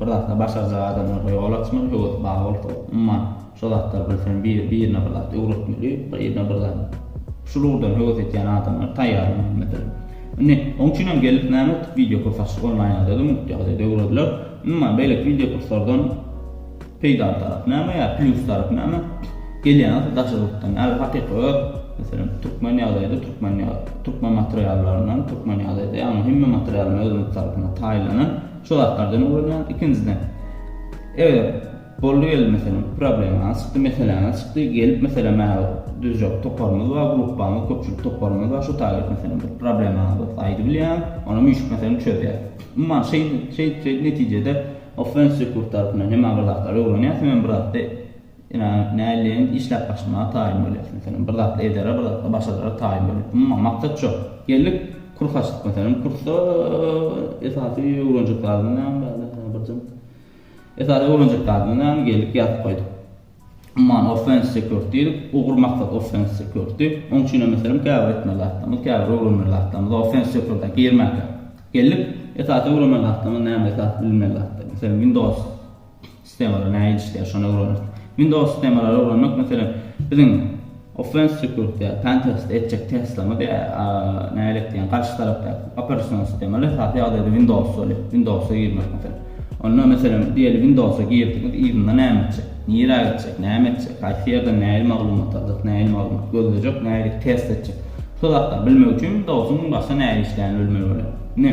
Bir zatyny başarjak adamdan ýol açmaly, höwesi bar bolsa, umuman, şo zatlary bilsem, bir, birine bir zat öwretmeli, birine bir zat. Şul ugurdan höwes etýän adamlar taýýar bolmalydyr. Indi, oň üçin hem gelip näme etdik, wideokurs açdyk, onlaýn ýagdaýda, mugt ýagdaýda öwrediler. Umuman, beýleki wideokurslardan peýdaly tarapy näme ýa plýus tarapy näme? Gelýän zat daşary ýurtdan, häzir hakyky öz, meselem, türkmen ýagdaýda, türkmen ýa, türkmen materiallaryndan, türkmen ýagdaýda, ýagny hemme materialyň özümiz tarapyndan taýlanan, Şu zatlardan ulanýan ikinjiden eger boldy geldi meselem problemaňyz çykdy meseläňiz çykdy gelip meselem maňa düzjek toparymyz bar gruppamyz köpçülik toparymyz bar şu taýy meselem bir problemaňyz bolsa aýdy bilýäňiz onam üýşüp meselem çözýäs umuman şeýdip şeýdip şeýdip netijede offensive kurs tarapyndan hem agzaklar öwrenýäs hem biraz Ine, näleýin, işläp başlamaga taýyn bolýas, meselem, bir zat edere, bir zatda başadara taýyn bolýas. Umuman, maksat şo. Geldik, kurs açdyk, meselem, kursda esasy öwrenjek zadymyz näme bardy? Hä, birjem. Esasy öwrenjek zadymyz näme? Geldik, ýazyp goýduk. Umuman, offense security diýdik, ugur maksat offense security. Oň üçin hem, meselem, käbir etmeli zatlarymyz, käbir öwrenmeli zatlarymyz offense security-a girmäkä. Geldik, esasy öwrenmeli zatlarymyz näme, esasy bilmeli zatlarymyz? Meselem, Windows. Sistemalary nähili işleýär, şony öwreneris. Windows sistemalary öwrenmek, meselem, biziň offense tüýkürükde ýa pentest etjek testlerimiz ýa nähili etdigiň garşy tarapdaky operasion sistemalar esasy ýagdaýda Windows bolýar. Windowsa girmek meselem. Onda, meselem, diýeli Windowsa girdiňiz, yzynda näme etjek? Nirä gitjek? Näme etjek? Haýsy ýerden nähili maglumat aljak? Nähili maglumat gözlejek? Nähili test etjek? Şo zatlary bilmek üçin Windowsyň başda nähili işleýänini bilmeli bolýar. Ine.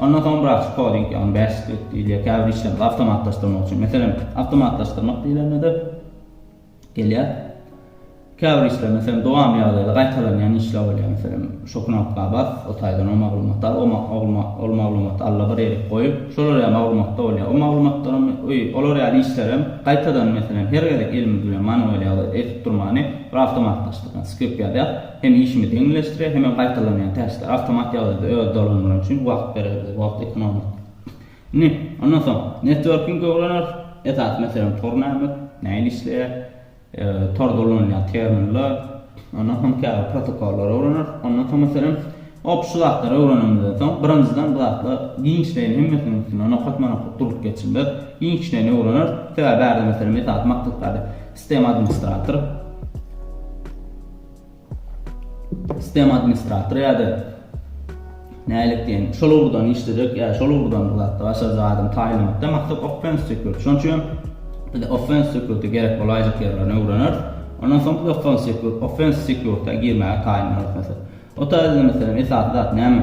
Ondan soň biraz koding, ýagny bash skript diýilýär, käbir işlerimizi awtomatlaşdyrmak üçin. Meselem, awtomatlaşdyrmak diýlende-de gelýär. Käbir işler, meselem, dowamly ýagdaýda gaýtalanýan işler bolýar. Meselem, şu knopka bas, o taýdan o maglumaty al, ol maglumaty allabir ýere goý. Şolar ýaly maglumatlar bolýar. O maglumatlaram, olar ýaly işlerem gaýtadan, meselem, her gezek elimiz bilen manual ýagdaýda edip durmany bir awtomatlaşdyrýan skript ýazýas. Hem işimizi ýeňilleşdirer, hemem gaýtalanýan täşler awtomat ýagdaýda öz dolanmaly üçin wagt berer bize, wagt ekonomik. Indi, ondan soň, networking öwreneris, esasy meselem tor näme, nähili işleýär, torda ulanylýan terminler, ondan soň käbir protokollary öwreneris, ondan soň meselem, hop şu zatlary öwrenenimizden soň, birinjiden bu zatlar giňişleýin hemmesiniň üstünde nokatma-nokat durup geçilmez, giňişleýin öwreneris, sebäbi bärde meselem esasy maksat bardy, sistema administratory, Sistema administratory ýa-da nälik diýen, şol ugurdan işlejek ýa-da şol ugurdan bir zatda başarjak adamy taýynlamakda maksat offense security. Şonuň üçin biz offense security gerek bolaýjak ýerlerini öwreneris. Ondan soň biz offense security, offense security girmäge taýynlanarys. Mesela, otagimizde meselem esasy zat näme?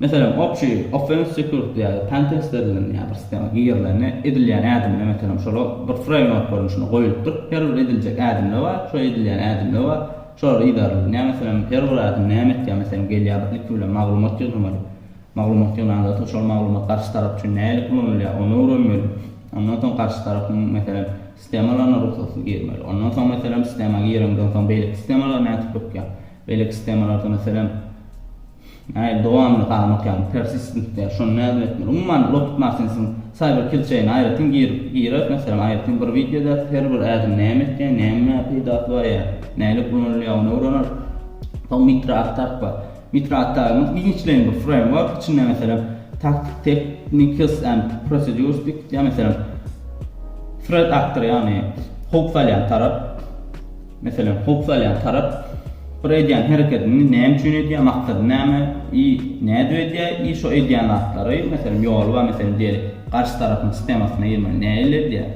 Meselem, obşi, offense security ýa-da pentest edilen ýa bir sistema girilende edilýän ädimine, meselem, şola bir framework görnüşinde goýlupdyr. Her bir ediljek ädimde bar, şo edilýän ädimde bar. Şolar yzarlanýar. Meselem, her bir ädim näme etýär? Meselem, gelýär bir ilki bilen maglumat ýygnamaly. Maglumat ýygnanda soň şol maglumat garşy tarap üçin nähili ulanylýar, ony öwrenmeli. Ondan soň garşy tarapyň, meselem, sistemalaryna rugsatsyz girmeli. Ondan soň, meselem, sistema gireňden soň beýleki sistemalar nädip ökýär? Beýleki sistemalarda, meselem, Nail dowamly haram okýarmy persistent diýýär şony nädip etmeli umuman locked martinsiň cyber kill chain aýratyn girip girer meselem aýratyn bir wideo edäris her bir ädim näme etýär näme peýdasy bar ýa nälik ulanylýar ony öwreneris soň mitra attack bar mitra attack giňişleýin bir framework içinde meselem taktik techniques and procedures diýip gidýär meselem threat actor ýagny howp salýan tarap. Meselem, howp salýan tarap bir edýän hereketini näme üçin edýär, maksady näme i nädip edýär i şo edýän zatlary, meselem, ýoly bar, meselem, diýeli, garşy tarapyň sistemasyna girmeli nähili edýär,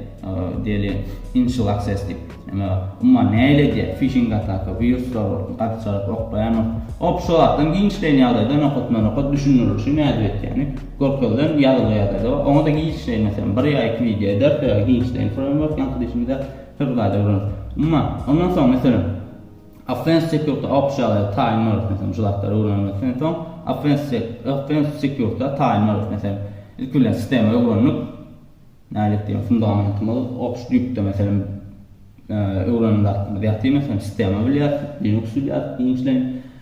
diýeli, initial access diýip, ýa-da umuman nähili edýär, fişing ataka, wiruslar bolsun, garşy tarap oklaýan bolsun, hop şo zatlaryň giňişleýin ýagdaýda nokatma-nokat düşündirilişi nädip edýäni görkezilen ýazylgy ýagdaýda bar. Oňa-da giňişleýin, meselem, bir ýa iki wideo ders ýa-da giňişleýin framework ýaňky dişimizde. Fewkalade gürrüňi. Umma, ondan soň, meselem, offense security awk şaýady taýyn bolarys, meselem, şu zatlary öwrenmekden soň, offense offense security taýyn bolarys, meselem, ilki bilen sistema öwrendik, nädip diýen fundamentimiz ops düýpde, meselem, öwrenen zatymyz ýatyr, meselem, sistema bilýäris, linux bilýäris giňişleýin.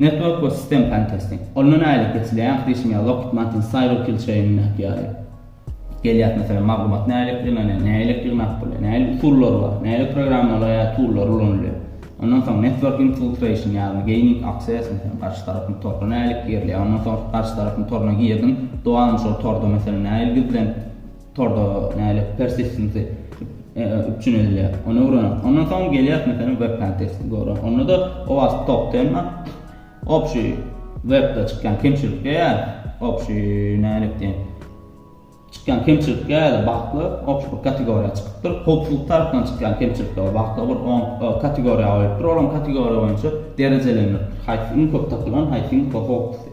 Network we System Pentesting. Onda nähili geçilýär? Diýşim ýaly, Lockheed Martin CyberKill çeýnindäki ýaly gelýär. Meselem, maglumat nähili eklenilýär, nähili eklenilmän bolýar, nähili usullary bar, nähili programmalary ýa tullary ulanylýar. Ondan soň Network Infiltration ýagny Gaining Access, meselem, garşy tarapyň toruna nähili girilýär. Ondan soň garşy tarapyň toruna girdiň, dowam şol torda meselem nähili gizlenip, Torda nälet persistency üpjün edilýär. Ony öwrenip, ondan soň gelýär meselem web kontesty görä. Onda da OWASP top 10 opşi webde çykýan kemçilikler ýa opşi nälet diýen çykýan kemçilikler ýa-da bagtlar opşi bir kategoriýa çykypdyr. Howpsuzlyk tarapyndan çykýan kemçilikler we bagtlar bir 10 kategoriýa goýupdyr. Olaryň kategoriýa boýunça derejelendiripdir. Haýsy iň köp tapylan, haýsy iň howpsuz.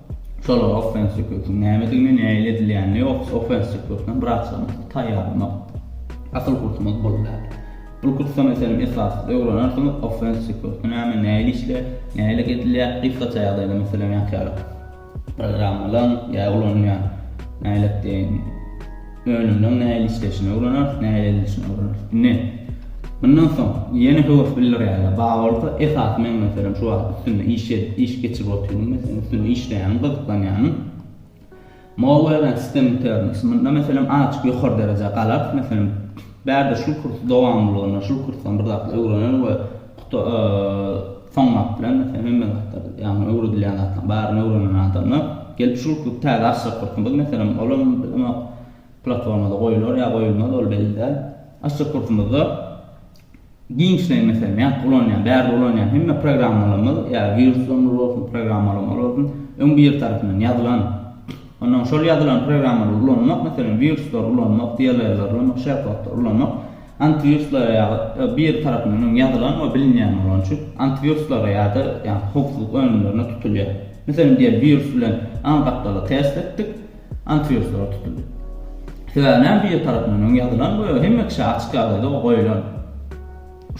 Şolar offense sükutyn nämedigini, nähili edilýänini, offense sükutyna biraçamyz taýýarlamak asyl kursumyz bol däl. Bul kursda meselem esasy öwrenersiňiz, offense sükuty näme, nähili işleýär, nähili edilýär, gysgaça ýagdaýda meselem ýa-da programmalaň ýa ulanylýan nälet deýin, Önümniň nähili işleýşini öwreneriz, nähili edilişini öwreneriz. Indi, mundan soň, ýene höwes bildirýärler. Bar bolsa, esasy meň, meselem, şu wagt üstünde iş edip, iş geçirip otyryn, meselem, üstünde işleýärin, gyzyklanýaryn. Mowa öwren sistem biterin. Munda, meselem, azajyk ýokary derejä galarys, meselem, bärde şul kurs dowamlylygyna, şul kursdan bir zatlar öwrenerin we Soň wagt bilen, meselem, hemme zatlar, ýagny öwredilýän zatlaryň baryny öwrenen adamlar gelip şu kluby täze açjak bolsa, biz, meselem, olam bilemok, platformada goýular ýa goýulmaz, ol belli däl. Açjak bolsumyzda giňişleýin, meselem, ýa ulanýan, bärde ulanýan hemme programmalarymyz, ýa wiruslarymyz bolsun, programmalarymyz bolsun, öň biri tarapyndan ýazylan. Onnoň şol ýazylan programmalary ulanmak, meselem, wiruslary ulanmak, DLL-leri ulanmak, SharePod-lary ulanmak, Antiwiruslara ýa-da bir tarapyndan öň ýazylan we bilinýän bolany üçin antiwiruslara ýa-da ýa-da howpsuzlyk önümlerine tutulýar. Meselem, diýeli wirus bilen aň gapdaly test etdik, antiwiruslara tutuldy. Sebäbi näme bir tarapyndan öň ýazylan we hemme kişä açyk ýagdaýda o goýulan.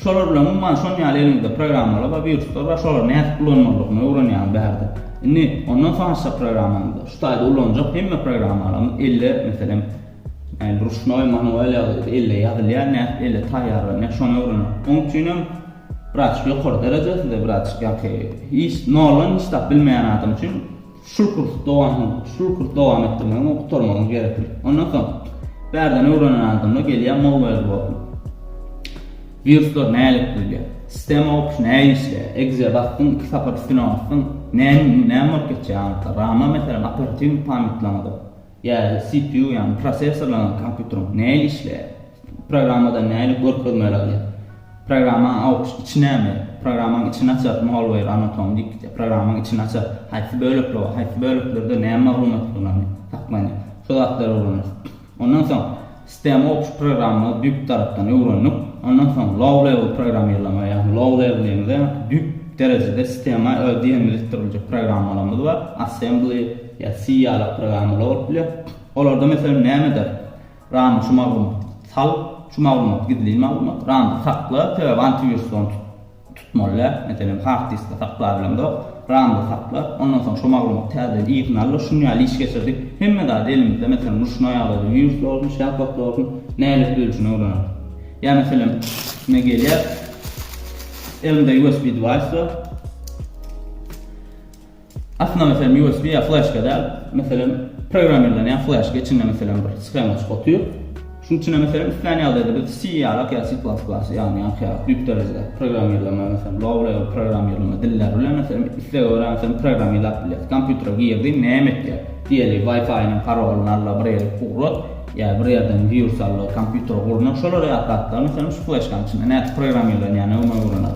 Şolar bilen umuman şon ýaly eliňizde programmalar bar, wiruslar bar, şolary nädip ulanmalydygyny öwrenýäňiz bärde. Indi ondan soň açjak programmaňyzda şu taýda ulanjak hemme programmalarymyz elde meselem, Ýagny ruşnoý, manuel ýaly elle ýazylýar, nädip elle taýýarlanýar, şony öwrenmek. Oň üçin hem birazçyk ýokary derejesinde, birazçyk ýaňky hiç noldan hiç zat bilmeýän adam üçin şul kurs dowam, şul kurs dowam etdirmegiň we gutarmagyň gerekli. Ondan soň bärden öwrenen adamlar gelýär mowwel bolup. Wiruslar nälik bilýär? Sistema opus näge işleýär? Exe basdyň, iki sapar üstüne basdyň, näme, näme bolup geçýär? Rama meselem operatiw pamýatlaňyza. Ýa CPU ýagny prosessorlaryň kompýuteriň näle işleýär? Programmada näle görkezmeler alýar? Programmanyň awçy içi näme? Programmanyň içini açar malware anatomy diýip gitýär. Programmanyň içini açar haýsy bölekler bar? Haýsy böleklerde näme maglumat saklanýar? Şu zatlary öwrenýär. Ondan soň Stem Ops programmany düýp tarapdan öwrendik. Ondan soň Low Level programmirlama, ýagny low level diýeniz-ä düýp derejede stema öz diýenini ýetirmejek programmalarymyz bar. Assembly ýa C ýaly programmalar bolup bilýär. Olarda meselem nämedir RAM-a şu maglumaty sal, şu maglumat gizlin maglumat, RAM-da sakla, sebäbi antiwirus ony tutdy. tutmalyar, meselem, hard diskde saklap bilemzok, ramda saklap, ondan soň şo maglumaty täzeden yzyna aldyr, şuny ýaly iş geçirdik, hemme zady elimizde, meselem, ruşnoý ýagdaýda wirusly bolsun, şäht wagtly bolsun, nälet ölçüni öwreneris. Ýa, meselem, men gelýär, elimde usb device bar. Aslynda meselem usb ýa fleşka däl, meselem programmirlenýän fleşka içinde meselem bir schemaçyk otyr. Şunuň üçinem meselem islän ýagdaýda biz C ýalak ýa C++ ýagny ýaňky ýaly düýp derejede programmirleme meselem low level programmirleme dilleri bilen meselem islege görä meselem programmirläp bilýäs. Kompýutere girdiň näme etýär? Diýeli wifi-niň parolyny al-la bir ýere ugrat ýa bir ýerden wirus al-la kompýutere gurna şolar ýaly zatlar meselem şu fleşkanyň içinde nädip programmirlenýäne öwme öwrener.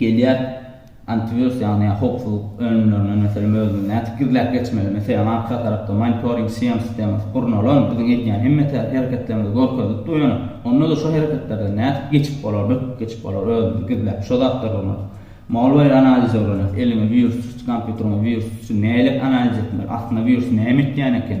Gelýär antivirus ýagny howpsuzlyk önümlerine meselem özüňiz nädip gizläp geçmeli meselem arka tarapda monitoring CM sistemasy gurnalan biziň edýän hemme hereketlerimizi görkezip dur ýöne onda-da şo hereketlerden nädip geçip bolar böküp geçip bolar özümizi gizläp şo zatlar gurnalan malware analizi öwreneris eliňe wirus düşdi kompýuteriňe wirus düşdi nälet analiz etmeli aslynda wirus näme etýän eken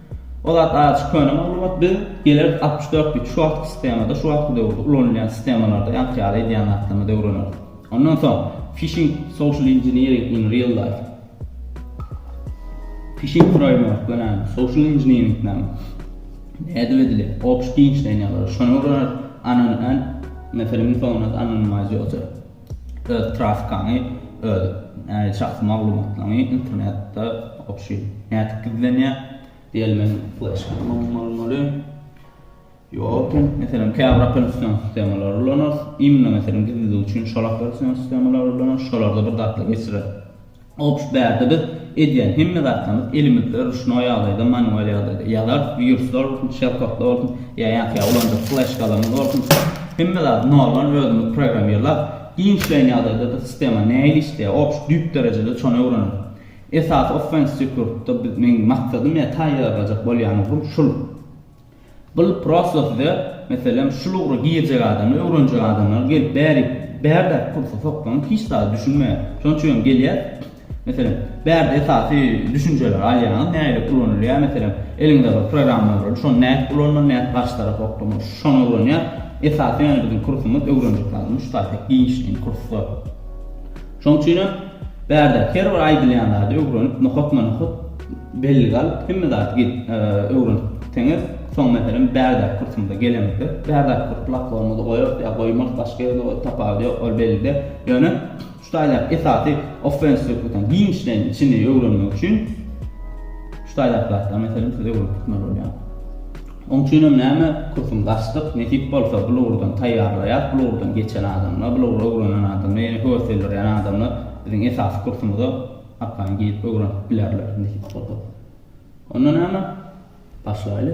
O zat aç köne maglumat biz geler altmyş dört bit şu wagtky sistemada şu wagtky döwürde ulanylýan sistemalarda ýaňky ýaly edýän zatlarymyzy öwreneris. Ondan soň Phishing social engineering in real life. Phishing framework göni social engineering näme? Nädip edilýär? Obşy giňişleýän ýagdaýda şony öwreneris. Anonym and meselem informace anonymize ýoty. Öz traskaňy, öz şahsy maglumatlaryňy internetde obşi nädip gizlenýär? Diýelmeli, fleşka bolmaly. Ýok, meselem, käbir operation sistemalary ulanarys. Imno meselem gizlemek üçin şol operation sistemalary ulanarys. Şolarda bir zatlar geçirer. Ops bärde biz edýän hemme zatlarymyz elimizde ruşnoý ýagdaýda manual ýagdaýda ýazarys wiruslar bolsun şelkoklar bolsun ýa ýa-da ulanjak fleşkalarymyz bolsun hemme zady noldan özümiz programmirlap giňişleýin ýagdaýdada sistema nähili işleýär ops düýp derejede şony öwreneris esasy offense sekurtda meň maksadym ýa taýýarlajak bolýan ugrum şul. Bul prosto size meselem şul ugra girjek adamlar öwrenjek adamlar gelip bäri bärde pulsa soksaňyz hiç zada düşünmeýär şonuň üçin hem gelýär meselem bärde esasy düşünjeleri alýaňyz nähili ulanylýar meselem eliňizde bir programma bolýar şony nädip ulanmaly nädip garşy tarapa okamaly şony öwrenýär esasy ýöne biziň kursumyz öwrenjek zadymyz şu taýda giňişleýin kurs bor şonuň üçin hem bärde her bir aýdylýan zady öwrenip nohutma nohut Belli gal, hemme zady git, öwren. Teňet, soň meselem bärde kursumyza gelemizde, bärde kurs bloklarymyzy goýarys ýa goýmarys, başga ýerde goýarys, tapawudy ýok, ol bellide. Ýöne şu taýlap esasy offense söhbetini giňişleýin içini öwrenmek üçin şu taýlap zatlary meselem siz öwrenip tutmaly bolýar. Oň üçin hem näme kursumyzy açdyk, nesip bolsa bul ugurdan taýýarlaýas, bul ugurdan geçen adamlar, bul ugry öwrenen adamlar, ýene höwes bildirýän adamlar biziň esasy kursumyza Hakyny giyip öwrenip bilerler nji sopy. Onda name? Başlaýly.